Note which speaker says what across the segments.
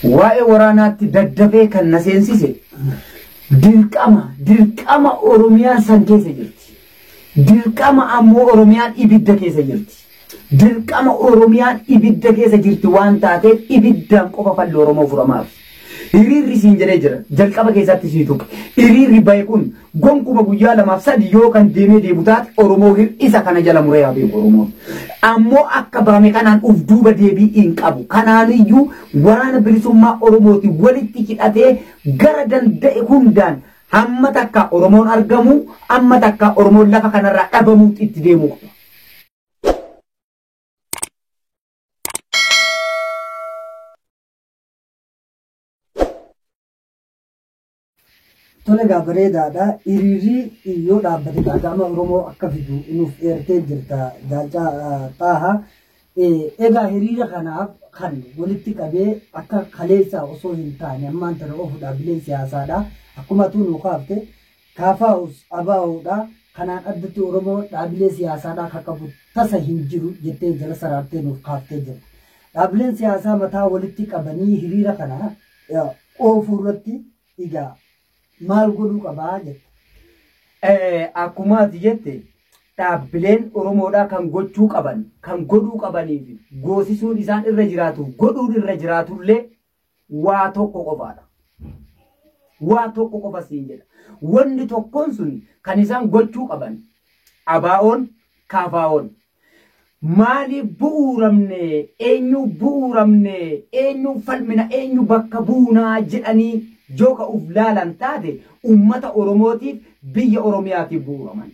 Speaker 1: Waa'ee waraanaatti daddafee kan na seensise dirqama dirqama Oromiyaan san keessa jirti. Dirqama ammoo Oromiyaan ibidda keessa jirti. Dirqama Oromiyaan ibidda keessa jirti waan taateef ibiddaan qofa falli Oromoo furamaaf. Hiriirri siin jedhee jira. Jalqaba keessatti sii tuqe. Hiriirri bahe kun Gonkuma guyyaa lamaaf sadi yoo kan deemee deebu taate Oromoo hir'isa kana jala muree haa beeku Oromoon. Ammoo akka baame kanaan uf duuba deebii hin qabu. Kanaaniyyuu waraana bilisummaa Oromooti walitti hidhatee gara danda'e hundaan hamma takkaa Oromoon argamu, amma takkaa Oromoon lafa kanarraa dhabamuutti itti deemuu qaba.
Speaker 2: Tole egaa bareedaadha. Hiriirri yoo dhaabbate gaaga'ama Oromoo akka fidu nuuf eertee jirta Jaalcaa Xaaha. Egaa hiriira kanaaf kan walitti qabee akka kaleessaa osoo hin taane ammaan tana oofu dhaabbileen siyaasaadha. Akkuma atuu nuu kaafte kaafaa'us abaawoodha. Kanaan addatti Oromoo dhaabbilee siyaasaadhaa kan qabu tasa hin jiru jettee jala saraartee nuuf kaaftee jirta. Dhaabbileen siyaasaa mataa walitti qabanii hiriira kana oofuu irratti egaa maal godhuu qabaa jetta? Akkuma ati
Speaker 1: jette dhaabbileen Oromoodhaa kan gochuu qaban, kan godhuu qabanii fi goosisuun isaan irra jiraatu, godhuun irra jiraatullee waa tokko qofaadha. Waa tokko qofa siin jedha. Wanni tokkoon sun kan isaan gochuu qaban abaa'oon, kaafaa'oon Maaliif bu'uuramne? Eenyuuf bu'uuramne? Eenyuuf falmina? Eenyu bakka buuna? jedhanii yoo ka uf laalan taate ummata Oromootiif biyya Oromiyaatiif bu'uuraman.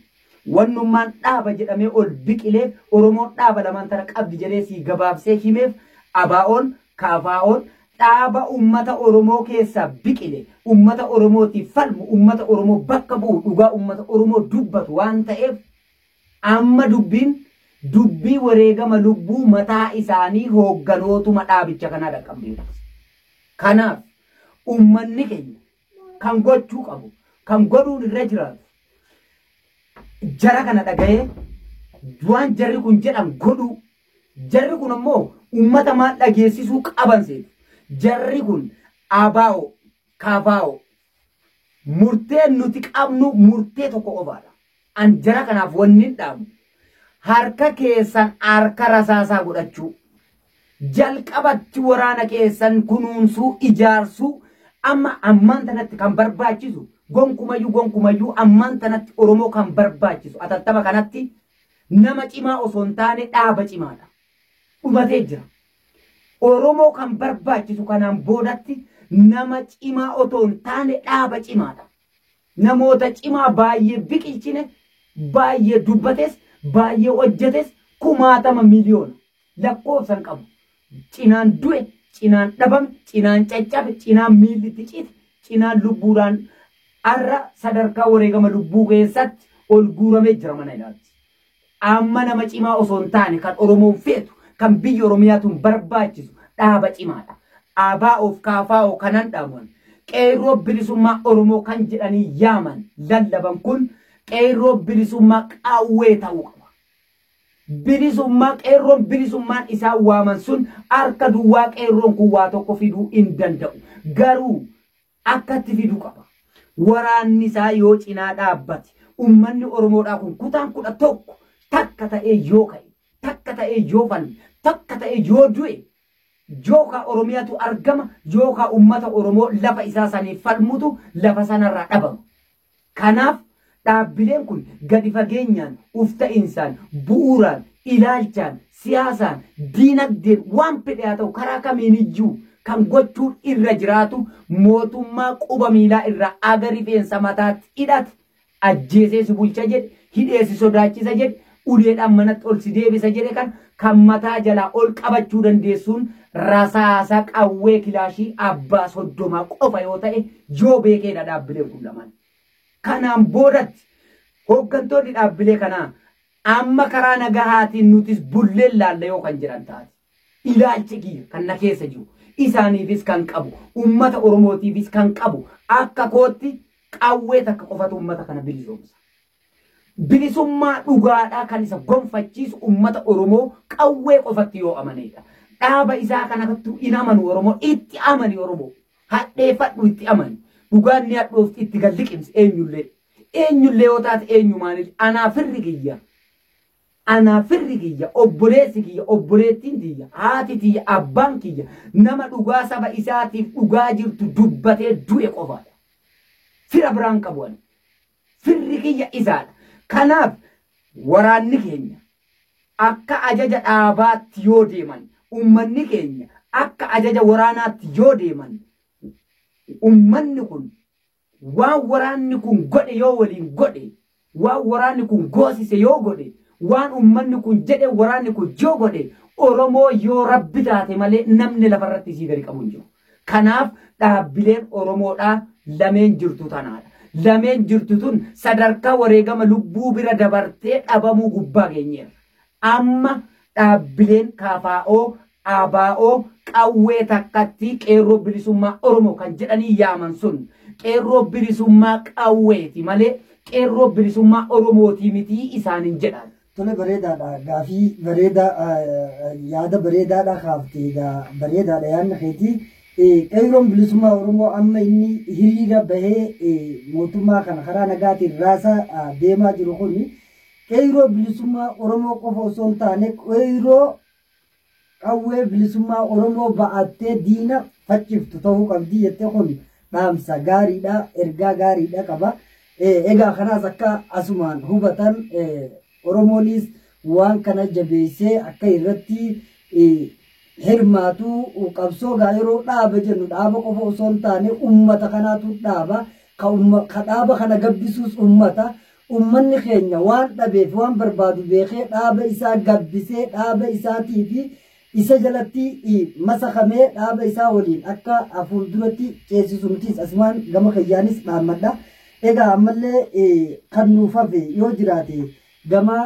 Speaker 1: Wannummaan dhaaba jedhamee ol biqileef Oromoon dhaaba lamaan tana qabdi jedhee sii gabaabsee himeef ABOn, KFOn dhaaba ummata Oromoo keessaa biqile, ummata Oromootiif falmu, ummata Oromoo bakka bu'u, dhugaa ummata Oromoo dubbatu waan ta'eef Amma dubbiin dubbii wareegama lubbuu mataa isaanii hoogganootuma dhaabicha kanaa dhaqqabdee turte. Kanaaf ummanni keenya kan gochuu qabu, kan godhuun irra jiraatu jara kana dhaga'ee waan jarri kun jedhan godhuu. Jarri kun ammoo ummata maal dhageessisuu qaban seetu. Jarri kun ABO, KFO, Murteen nuti qabnu murtee tokko qofaadha. An jara kanaaf wannin dhaamu harka keessan harka rasaasaa godhachuu, jalqabatti waraana keessan kunuunsuu, ijaarsuu, amma ammaan tanatti kan barbaachisu gonkumayyuu gonkumayyuu ammaan tanatti Oromoo kan barbaachisu atattama kanatti nama cimaa osoo hin taane dhaaba cimaadha. Dhumatee jira. Oromoo kan barbaachisu kanaan boodatti nama cimaa otoo hin taane dhaaba cimaadha. Namoota cimaa baay'ee biqilchine, baay'ee dubbates, baay'ee hojjetes kumaatama miliyoona lakkoofsan qabu. Cinaan du'e, cinaan dhabame, cinaan caccabe, cinaan miilli itti cite, cinaan lubbuudhaan har'a sadarkaa wareegama lubbuu keessatti ol guuramee jira mana ilaalti. Amma nama cimaa osoo hin taane kan Oromoon feetu, kan biyyi Oromiyaatuun barbaachisu dhaaba cimaadha. ABOf KFO kanan dhaaman, Qeerroo Bilisummaa Oromoo kan jedhanii yaaman, lallaban kun Qeerroo Bilisummaa Qawwee ta'uu qaba. Bilisummaa Qeerroon Bilisummaan isaan waaman sun harka duwwaa Qeerroon kun waa tokko fiduu hin danda'u. Garuu akkatti fidu qaba. Waraanni isaa yoo cinaa dhaabbate, ummanni Oromoodhaa kun kutaan kudha tokko takka ta'ee yoo ka'e, takka ta'ee yoo falme, takka ta'ee yoo du'e, yookaa Oromiyaatu argama, yookaa ummata Oromoo lafa isaa saniif falmutu lafa sanarraa dhabama. Kanaaf dhaabbileen kun gadi fageenyaan, uf ta'insaan, bu'uuraan, ilaalchaan, siyaasaan, diinagdeen waan fedhe haa ta'u karaa kamiiniyyuu kan gochuun irra jiraatu mootummaa quba miilaa irraa aga rifeensa mataatti hidhate ajjeesee si bulcha jedhe, hidhee si sodaachisa jedhe, uleedhaan manatti ol si deebisa jedhe kan kan mataa jalaa ol qabachuu dandeessuun rasaasa qawwee kilaashii abbaa soddomaa qofa yoo ta'e yoo beekeedha dhaabbileen kun lamaan. Kanaan boodatti hooggantoonni dhaabbilee kanaa amma karaa nagahaatiin nutis bulleen laalla yoo kan jedhan taate. Ilaalchi kiyya kan na keessa jiru isaaniifis kan qabu uummata Oromootiifis kan qabu akka kootti qawwee takka qofatu uummata kana bilisoomsa. Bilisummaa dhugaadhaa kan isa gonfachiisu ummata Oromoo qawwee qofatti yoo amaneedha. Dhaaba isaa kanattu hin amanu Oromoo itti amani Oromoo. Hadheeffadhu itti amani. Dhugaan ni hadhoofti itti gad liqimsi eenyullee. Eenyullee yoo taate eenyumaanillee anaa firri kiyya. Anaa firri kiyya obboleessi kiyya obboleettiin tiyya haati tiyya abbaan kiyya nama dhugaa saba isaatiif dhugaa jirtu dubbatee du'e qofaadha. Fira biraan qabu ani. Firri kiyya isaadha. Kanaaf waraanni keenya akka ajaja dhaabaatti yoo deeman, ummanni keenya akka ajaja waraanaatti yoo deeman, ummanni kun waan waraanni kun godhe yoo waliin godhe, waan waraanni kun goosise yoo godhe, waan ummanni kun jedhe waraanni kun yoo godhe, Oromoo yoo Rabbi taate malee namni lafarratti isii gadi qabu hin jiru. Kanaaf dhaabbileen Oromoodhaa lameen jirtu tanaadha. Lameen jirtu tun sadarkaa wareegama lubbuu bira dabartee dhabamuu gubbaa geenyeerra. Amma dhaabbileen KFO, ABO, qawwee takkattii Qeerroo Bilisummaa Oromoo kan jedhanii yaaman sun Qeerroo Bilisummaa qawweeti malee Qeerroo Bilisummaa Oromootii mitii isaanin jedhaan. Tole bareedaadha
Speaker 2: gaafii bareedaa yaada bareedaadha kaafte egaa bareedaadha yaadni keetii. Qeerroon bilisummaa Oromoo amma inni hiriira bahee mootummaa kana karaa nagaatiin raasaa deemaa jiru kun qeerroo bilisummaa Oromoo qofa osoo hin taane qeerroo qawwee bilisummaa Oromoo ba'attee diina facciftu ta'uu qabdi jettee kun dhaamsa gaariidha ergaa gaariidha qaba egaa kanaas akka asumaan hubatan Oromoonis waan kana jabeessee akka irratti hirmaatu qabsoo gaa yeroo dhaaba jennu dhaaba qofa osoo hin taane ummata kanaatu dhaaba ka dhaaba kana gabbisuus ummata Ummanni keenya waan dhabeef waan barbaadu beekee dhaaba isaa gabbisee dhaaba isaatii fi isa jalatti masakamee dhaaba isaa waliin akka fuulduratti ceesisu nutis asumaan gama kiyyaanis dhaammadha. Egaa ammallee kan nuuf hafe yoo jiraate gama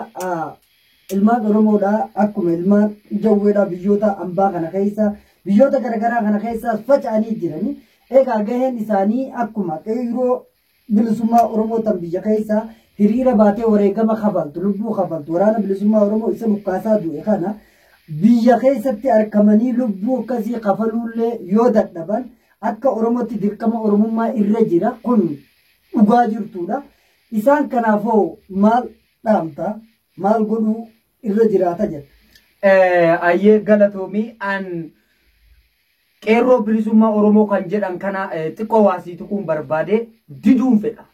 Speaker 2: ilmaan Oromoodha akkuma ilmaan jawweedha biyyoota ambaa kana keessa biyyoota garaagaraa kana keessaas faca'anii jirani. Egaa gaheen isaanii akkuma qeyroo bilisummaa Oromoo tan biyya keessaa hiriira baatee wareegama kafaltu, lubbuu kafaltu, waraana bilisummaa Oromoo isa dhukkaasaa du'e kana biyya keessatti arkamanii lubbuu akkasii kafaluullee yoo dadhaban akka Oromootti dirqama Oromummaa irra jira kun dhugaa jirtuudha. Isaan kanaafoo maal dhaamta? Maal godhuu irra jiraata jedha. Ayyee galatoomii
Speaker 1: an qeerroo bilisummaa Oromoo kan jedhan kana xiqqoo waasii tuquun barbaade diduun fedha.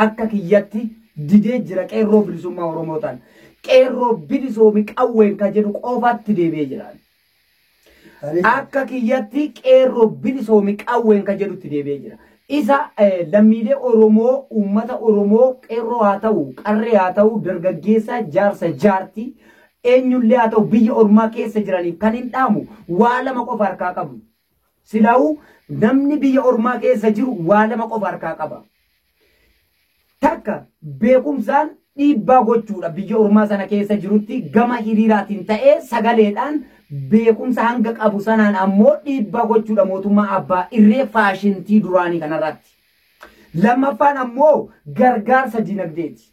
Speaker 1: Akka kiyyatti didee jira qeerroo bilisummaa Oromoo ta'an. Qeerroo bilisoomi qawween kan jedhu qofaatti deebi'ee jira. Akka kiyyatti qeerroo bilisoomi qawween kan jedhutti deebi'ee jira. Isa lammiilee Oromoo, uummata Oromoo qeerroo haa ta'u, qarree haa ta'u, dargaggeessa, jaarsa, jaartii, eenyullee haa ta'u biyya ormaa keessa jiraniif kan hin dhaamu waa lama qofa harkaa qabu. Silaa'uu namni biyya ormaa keessa jiru waa lama qofa harkaa qaba. Takka beekumsaan dhiibbaa gochuudha biyya ormaa sana keessa jirutti gama hiriiraatiin ta'ee sagaleedhaan beekumsa hanga qabu sanaan ammoo dhiibbaa gochuudha mootummaa abbaa irree faashintii duraanii kanarratti. Lammaffaan ammoo gargaarsa dinagdeeti.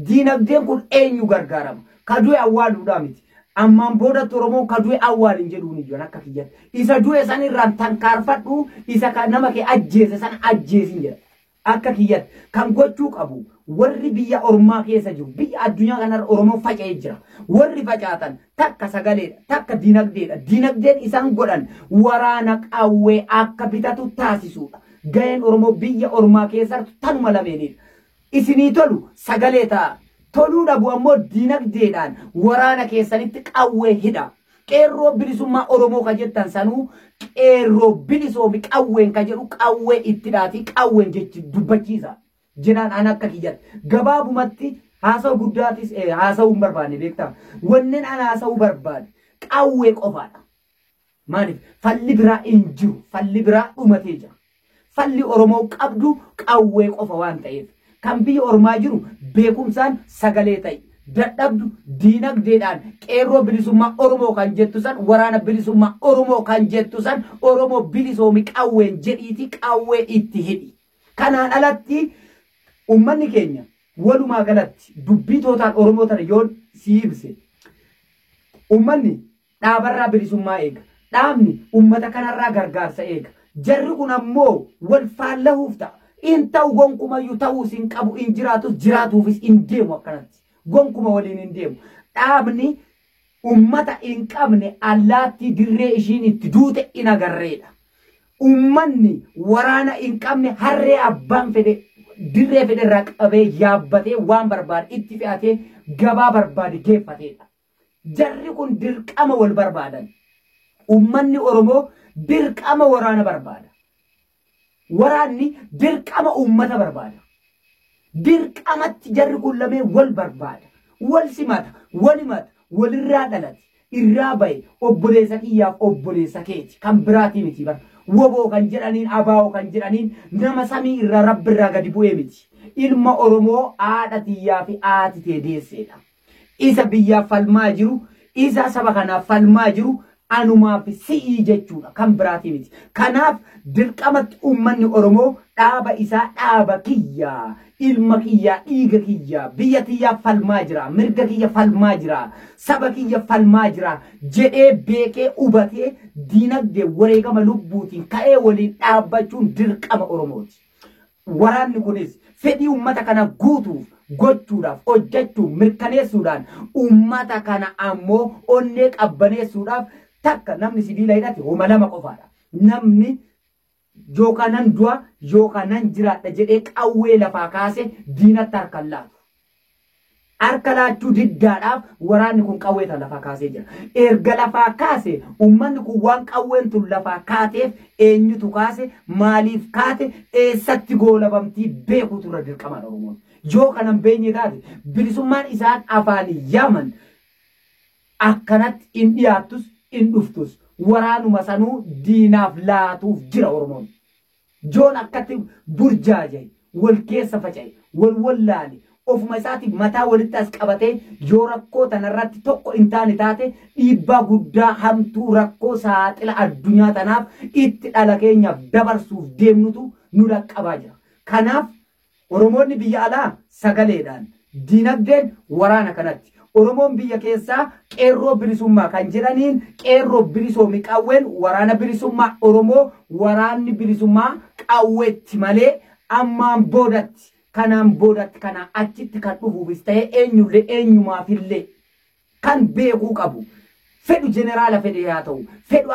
Speaker 1: Dinagdeen kun eenyu gargaarama? Ka du'e awwaaluudhaa miti. Ammaan boodatti Oromoon ka du'e awwaalin jedhuun iyyan akka kiyyatti. Isa du'e san irraan tankaarfadhu isa ka nama kee ajjeese san ajjeesin jedha. Akka kiyyatti kan gochuu qabu warri biyya ormaa keessa jiru biyya addunyaa kanarra Oromoon faca'ee jira. Warri facaatan takka sagaleedha takka dinagdeedha. Dinagdeen isaan godhan waraana qawwee akka bitatu taasisuudha. Gaheen Oromoo biyya ormaa keessartu tanuma lameenidha. Isinii tolu sagalee ta'a. Toluu dhabu ammoo dinagdeedhaan waraana keessanitti qawwee hidhaa. Qeerroo bilisummaa Oromoo ka jettan sanuu qeerroo bilisoomi qawween ka jedhu qawwee itti dhaatii qawween jechi dubbachiisa. Jenaan an akka kiyyatti gabaabumatti haasawu guddaatis eh, haasawuu hin barbaanne beektaa. Wannen an haasawuu barbaade qawwee qofaadha. Maaliif falli biraa hin jiru. Falli biraa dhumatee jira. Falli Oromoo qabdu qawwee qofa waan ta'eef kan biyya ormaa jiru beekumsaan sagalee ta'i. Dadhabdu diinagdeedhaan qeerroo bilisummaa Oromoo kan jettu san waraana bilisummaa Oromoo kan jettu san Oromoo bilisoomi qawween jedhiiti qawwee itti hidhi. Kanaan alatti ummanni keenya walumaa galatti dubbii tootaan Oromoo tana yoon sii ibse ummanni Dhaabarraa bilisummaa eega. Dhaabni ummata kanarraa gargaarsa eega. Jarri kun ammoo wal faallahuuf ta'a. Hin ta'u gonkumayyuu ta'uus hin qabu, hin jiraatus, jiraatuufis hin deemu akkanatti. Gonkuma waliin hin deemu. Dhaabni ummata hin qabne allaattii dirree ishiin itti duute hin agarreedha. Ummanni waraana hin qabne harree abbaan fedhe dirree fedherraa qabee yaabbatee waan barbaade itti fe'atee gabaa barbaade geeffateedha. Jarri kun dirqama wal barbaadan. Ummanni Oromoo dirqama waraana barbaada. Waraanni dirqama ummata barbaada. Dirqamatti jarri kun lameen wal barbaada. Wal simata, wal himata, walirraa dhalate, irraa bahe, obboleessa kiyyaaf obboleessa keeti. Kan biraatii miti bar. Woboo kan jedhaniin, ABO kan jedhaniin nama samii irraa, Rabbi irraa gadi bu'ee miti. Ilma Oromoo haadha tiyyaa fi haati tee deesseedha. Isa biyyaaf falmaa jiru, isa saba kanaaf falmaa jiru anumaa fi si'ii jechuudha. Kan biraatii miti. Kanaaf dirqamatti uummanni Oromoo dhaaba isaa dhaaba kiyya, ilma kiyyaa, dhiiga kiyya, biyya tiyyaaf falmaa jira, mirga kiyya falmaa jira, saba kiyya falmaa jira jedhee beekee hubatee diinagdee wareegama lubbuutiin ka'ee waliin dhaabbachuun dirqama Oromooti. Waraanni kunis fedhii uummata kana guutuuf gochuudhaaf hojjachuu mirkaneessuudhaan uummata kana ammoo onnee qabbaneessuudhaaf takka namni sibiila hidhate homa lama qofaadha. Namni yookaa nan du'a yookaa nan jiraadha jedhee qawwee lafaa kaase diinatti harka hin laatu. Harka laachuu diddaadhaaf waraanni kun qawwee tana lafaa kaasee jira. Erga lafaa kaase ummanni kun waan qawween tun lafaa kaateef eenyutu kaase, maaliif kaate, eessatti goolabamtii beekuutu irra dirqamaadha Oromoon. Yoo kana hin beenye taate bilisummaan isaan afaaniin yaaman akkanatti hin dhiyaattus hin dhuftus. Waraanuma sanuu diinaaf laatuuf jira Oromoon. Joon akkatti burjaaje, wal keessa faca'e, wal wallaale, ofuma isaatiif mataa walitti as qabatee yoo rakkoo tanarratti tokko hin taane taate dhiibbaa guddaa hamtuu rakkoo saaxila addunyaa tanaaf itti dhala keenyaaf dabarsuuf deemnutu nu dhaqqabaa jira. Kanaaf Oromoonni biyya alaa sagaleedhaan, dinagdeen waraana kanatti. Oromoon biyya keessaa Qeerroo Bilisummaa kan jedhaniin Qeerroo bilisoomi qawween waraana bilisummaa Oromoo waraanni bilisummaa qawweetti malee ammaan boodatti, kanaan boodatti, kanaa achitti kan dhufuufis ta'ee eenyullee eenyumaafillee kan beekuu qabu fedhu jeneraala fedhee haa ta'u, fedhu.